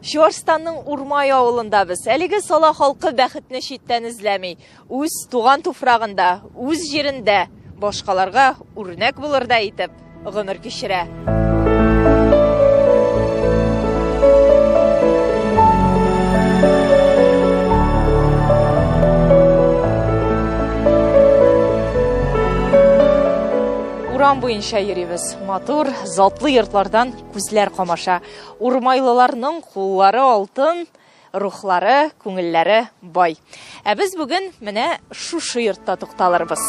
Чуарстанның Урмай авылында без. Әлеге сала халкы бәхетне читтән эзләми. Үз туган туфрагында, үз җирендә башкаларга үрнәк булырдай итеп гомер кичерә. Урам буенча йөрибез. Матур, затлы йортлардан Күзләр камаша. Урмайлыларның куллары алтын, рухлары, күңелләре бай. Ә без бүген менә шушы йортта тукталырбыз.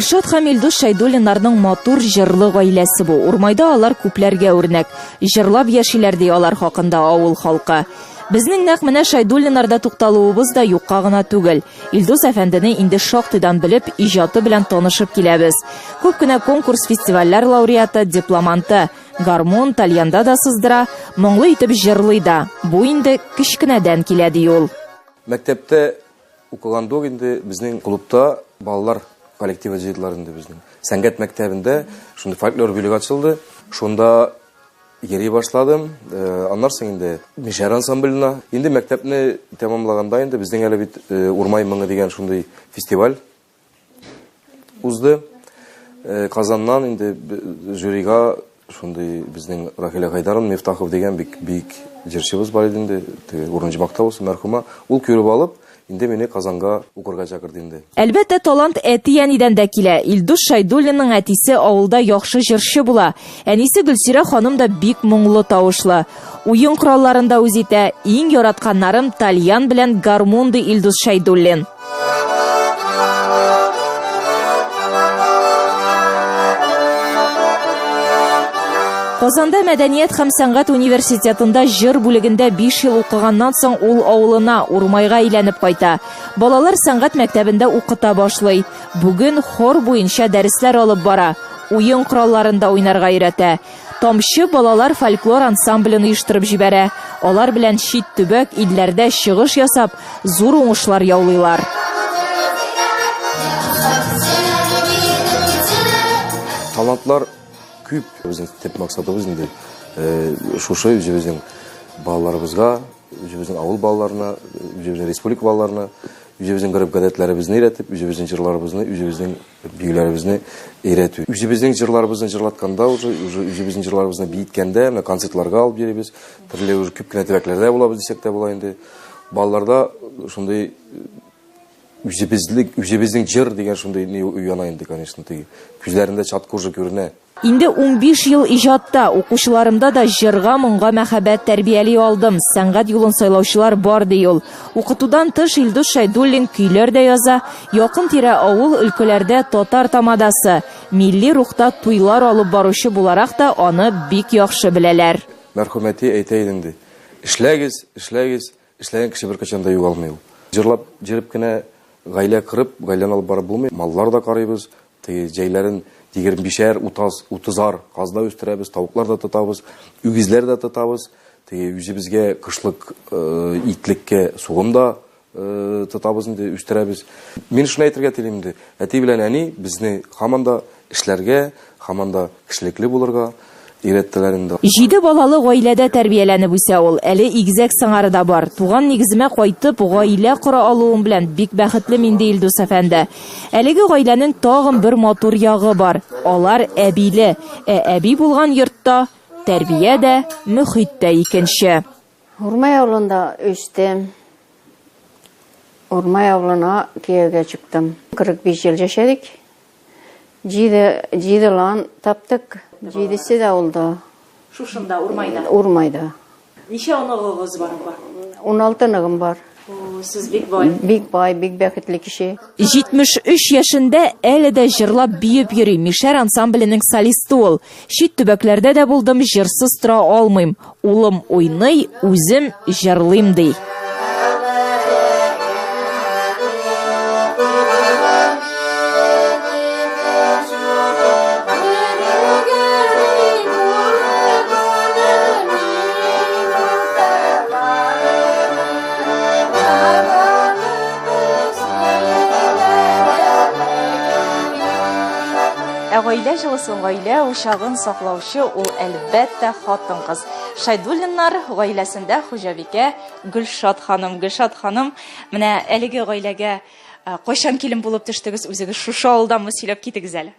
Гөлшат һәм Илдус Шәйдуллиннарның матур җырлы гаиләсе бу. Урмайда алар күпләргә үрнәк. Җырлап яшиләр ди алар хакында авыл халкы. Безнең нәкъ менә Шәйдуллиннарда тукталуыбыз да юкка гына түгел. Илдус әфәндене инде шактыйдан белеп, иҗаты белән танышып киләбез. Күп кенә конкурс-фестивальләр лауреаты, дипломанты. Гармун, тальянда да сыздыра, моңлы итеп җырлый да. Бу инде кечкенәдән килә, ди ул. Мәктәптә укыганда ук инде безнең клубта балалар коллективы җыйдылар инде безнең. Сәнгать мәктәбендә шундый фольклор бүлеге ачылды. Шунда Йөри башладым. Аннары соң инде Мишәр ансамбленә. Инде мәктәпне тәмамлаганда инде безнең әле бит Урмай моңы дигән шундый фестиваль узды. Казаннан инде жюрига шундый безнең Рахилә Гайдаровна Мифтахов дигән бик бик җырчыбыз бар иде инде, теге Урынҗмакта булсын, мәрхүмә. Ул күреп алып, Инде мине Казанга укырга чакырды инде. Әлбәттә, талант әти-әнидән дә килә. Илдус Шәйдуллинның әтисе авылда яхшы җырчы була. Әнисе Гөлсирә ханым да бик моңлы тавышлы. Уен коралларын да үз итә. Иң яратканнарым тальян белән гармун ди Илдус Шәйдуллин. Казанда мәдәният һәм сәнгать университетында җыр бүлегендә 5 ел укыганнан соң ул авылына, Урмайга әйләнеп кайта. Балалар сәнгать мәктәбендә укыта башлый. Бүген хор буенча дәресләр алып бара. Уен коралларында уйнарга өйрәтә. Тамчы балалар фольклор ансамблен оештырып җибәрә. Алар белән чит төбәк илләрдә чыгыш ясап, зур уңышлар яулыйлар. Талантлар Күп үзенең төп максатыбыз инде шушы үзебезнең балаларыбызга, үзебезнең авыл балаларына, үзебезнең республика балаларына үзебезнең гореф-гадәтләребезне өйрәтеп, үзебезнең җырларыбызны, үзебезнең биюләребезне өйрәтү. Үзебезнең җырларыбызны җырлатканда, уже үзебезнең җырларыбызны биеткәндә, менә концертларга алып йөрибез. Төрле уже күп кенә төбәкләрдә булабыз дисәк тә була инде. Балаларда шундый Үзебезлек, үзебезнең җыр дигән шундый ни уяна инде, конечно, теге. Күзләрендә чат кожа күренә. Инде унбиш ел иҗатта, укучыларымда да җырга, моңга мәхәббәт тәрбияли алдым. Сәнгать юлын сайлаучылар бар, ди ул. Укытудан тыш Илдус Шәйдуллин көйләр дә яза, якын-тирә авыл, өлкәләрдә татар тамадасы, милли рухта туйлар алып баручы буларак та аны бик яхшы беләләр. Мәрхүмәти әйтә иде инде, эшләгез, эшләгез, Эшләгән кеше беркайчан да югалмый ул. Җырлап, җырып кенә гаилә корып, гаиләне алып барып булмый. Маллар да карыйбыз. Теге җәйләрен егермешәр, утаз, утызар казна үстерәбез, тавыклар да тотабыз, үгезләр дә тотабыз. Теге үзебезгә кышлык итлеккә сугым да тотабыз инде, үстерәбез. Мин шуны әйтергә телим инде, әти белән әни безне һаман да Эшләргә, һаман да кешелекле булырга өйрәттеләр инде. Җиде балалы гаиләдә тәрбияләнеп үсә ул. Әле игезәк сыңары да бар. Туган нигеземә кайтып, гаилә кора алуым белән бик бәхетле мин, ди Илдус әфәнде. Әлеге гаиләнең тагын бер матур ягы бар, алар әбиле. Ә әби булган йортта тәрбия дә, мөхит тә икенче. Урмай авылында үстем. Урмай авылына кияүгә чыктым. 45 ел яшәдек. Җиде, җиде лан таптык. Җидесе дә улда. Шушында, Урмайда. Урмайда. Ничә оныгыгыз бар апа? 16 ныгым бар. Сез бик бай. Бик бай, бик бәхетле кеше. 73 яшендә әле дә җырлап биеп йөри Мишәр ансамбленең солисты ул. Чит төбәкләрдә дә булдым, җырсыз тора алмыйм. Улым уйный, үзем җырлыйм ди. Ә гаилә җылысын, гаилә учагын саклаучы ул әлбәттә хатын-кыз. Шайдуллиннар гаиләсендә хуҗабикә Гөлшат ханым. Гөлшат ханым, менә әлеге гаиләгә Ә кайчан килен булып төштегез үзегез? Шушы авылданмы сөйләп китегез әле.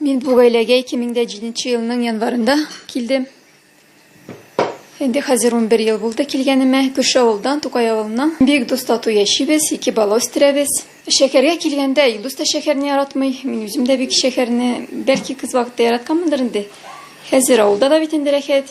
Мин бу гаиләгә 2007 елның январында килдем. Инде хәзер 11 ел булды килгәнемә. Күрше авылдан, Тукай авылыннан. Бик дус тату яшибез, ике бала үстерәбез. Шәһәргә килгәндә Илдус та шәһәрне яратмый, мин үзем дә бик шәһәрне, бәлки кыз вакытта яратканмындыр инде. Хәзер авылда да бит инде рәхәт.